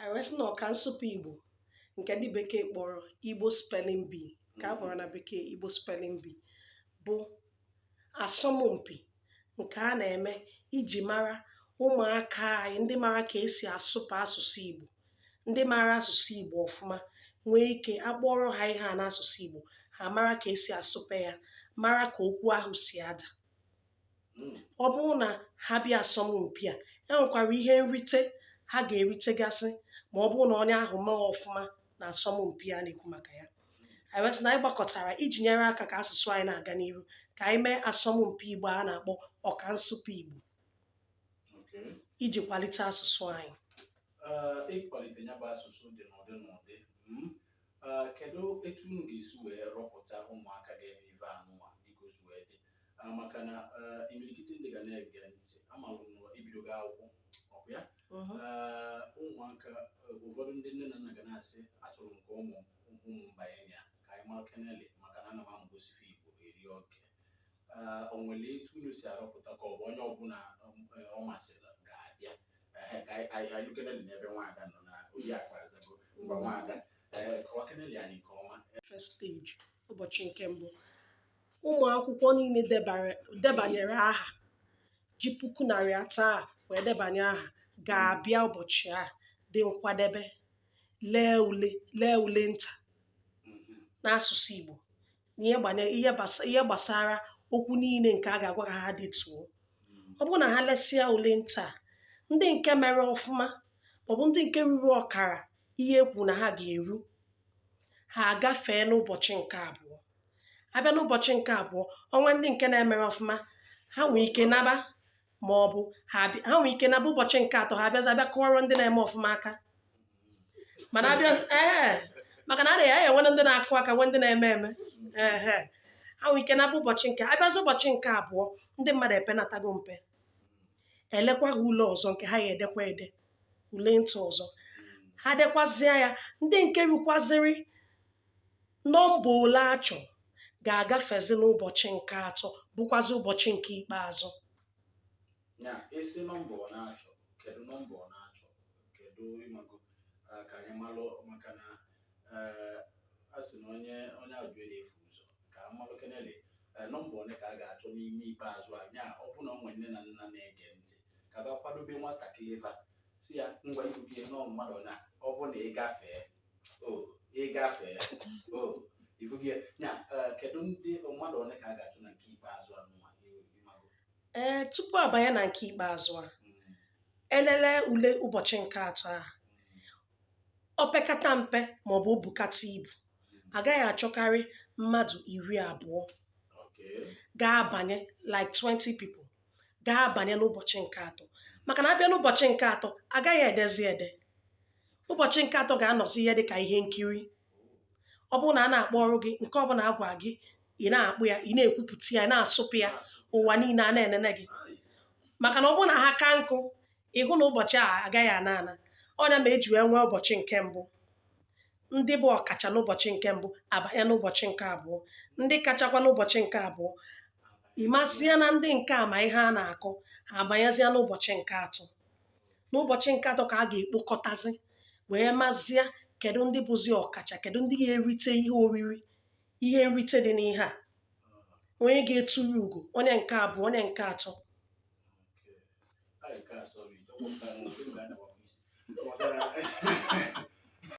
anyị wee sị na ọka nsụpe igbo nke ndị bekee kpọrọ igbo spelling bee nke a kpọrọ na bekee igbo spelling bee bụ asọmpi nke a na-eme iji mara ụmụaka anyị ndị mara ka esi asụpe asụsụ igbo ndị mara asụsụ igbo ọfụma nwee ike a kpọọrọ ha ihe n'asụsụ igbo ha mara ka esi asụpe ya mara ka okwu ahụ si ada ọ bụrụ na ha bịa asọmpi a e nwekwara ihe nrite ha ga-eritegasị ma ọ bụrụ na onye ahụ mee ọfụma na asọmpi a na-ekwu maka ya anyị wee sị na anyị gbakọtara iji nyere aka ka asụsụ anyị na-aga n'ihu ka anyị mee asọmpi igbo a na-akpọ ọka nsụpe igbo iji kwalite asụsụ anyị ịkwalite ya bụ asụsụ dị n'ụdị n'ụdị mm, ah, kedu etu unu ga-esi wee rọpụta ụmụaka ga-eme ife anụnwa dịka o si wee dị Ah, maka na eh, imirikiti ndị ga na-ege ntị amalụ m na ebidogo akwụkwọ ọ bụ ya Mhm. Eh, ụmụaka eh, ụfọdụ ndị nne na nna ga na-asị achọrọ m ka ụmụ ụmụ m banye na ya ka anyị mara kenele maka na ana m amụ gosife igbo eri oke Eh, o nwere etu unu si arọpụta ka ọ bụ onye ọbụla um, eh, ọ masịrị ga-abịa Ehe, ka anyị- anyị anyị kenele n'ebe nwaada nọ na oyi akpa azago ngwa nwaada Eh, kọwa kenele anyị nke ọma first stage ụbọchị nke mbụ ụmụ akwụkwọ niile debanyere aha ji puku naịra atọ a wee debanye aha ga-abịa ụbọchị a dị nkwadebe lee ule lee ule nta n'asụsụ Igbo na ihe gbasara okwu niile nke a ga-agwa ka ha detuo ọ bụrụ na ha lesịa ule nta ndị nke mere ọfụma maọbụ ndị nke ruru ọkara ihe e kwuru na ha ga-eru ha agafee n'ụbọchị nke abụọ abịa n'ụbọchị nke abụọ o nwee ndị nke na-emerọ ọfụma ha nwee ike naba ma ọ bụ ha abịa- ha nwee ike naba ụbọchị nke atọ ha abịazi abịa kụọrọ ndị na-eme ọfụma aka mana abịa ee maka na a ya-enwe ndị na-akụ aka nwee ndị na-eme eme ehe ha nwee ike naba ụbọchị nke abịazi ụbọchị nke abụọ ndị mmadụ epenatago mpe elekwa ha ule ọzọ nke ha ya-edekwa ede ule nta ọzọ ha dekwazịa ya ndị nke rukwazịrị nọmba ole a chọrọ ga-agafezi n'ụbọchị nke atọ bụkwazi ụbọchị nke ikpeazụ ya esi nọmba ọ na-achọ kedu nọmba ọ na-achọ kedu ịmago ah, ka anyị malụ maka na eh, a sị na onye onye ajụjụ adịrọ efu ụzọ ka a malụ kenele eh, nọmba one ka a ga-achọ n'ime ikpeazụ a ya ọ bụ na o nwere nne na nna na-ege ntị ka ọ gaa kwadobe nwatakịrị ebe a sị ya ngwa ibugie nọọ mmadụ na ọ bụ na ị gafee ịgafe ibugi ya kedu ndị mmadụ ole ka a ga-achọ na nke ikpeazụ a ee tupu abanye na nke ikpeazụ a hmm. elele ule ụbọchị nke atọ a hmm. opekata mpe maọbụ o bukata ibu hmm. agaghị achọkarị mmadụ iri abụọ ga-abanye like 20 people ga-abanye n'ụbọchị nke atọ maka na a bịa n'ụbọchị nke atọ agaghị edezi ede ụbọchị nke atọ ga-anọzi ihe dị ka ihe nkiri ọ bụrụ na a na-akpọrọ gị nke ọbụla a gwa gị ị na-akpọ ya ị na-ekwupụta ya ị na-asụpe ya ụwa niile a na-enene gị maka na ọ bụrụ na ha ka nkụ ịhụ na ụbọchị a agaghị ana ana ọ nya ma e ji wee nwee ụbọchị nke mbụ ndị bụ ọkacha n'ụbọchị nke mbụ abanye n'ụbọchị nke abụọ ndị kachakwa n'ụbọchị nke abụọ ị mazia na ndị nke a ma ihe a na-akọ ha abanyezịa n'ụbọchị nke atọ n'ụbọchị nke atọ ka a ga-ekpokọtazi wee mazia kedu ndị bụzi ọkacha kedu ndị ga-erite ihe oriri ihe nrite dị n'ihe a onye ga-eturu ugo onye nke abụọ onye nke atọ Nke a, sorry, ọ bụ nke a, nke a na-agbapụ isi. Ọ gara-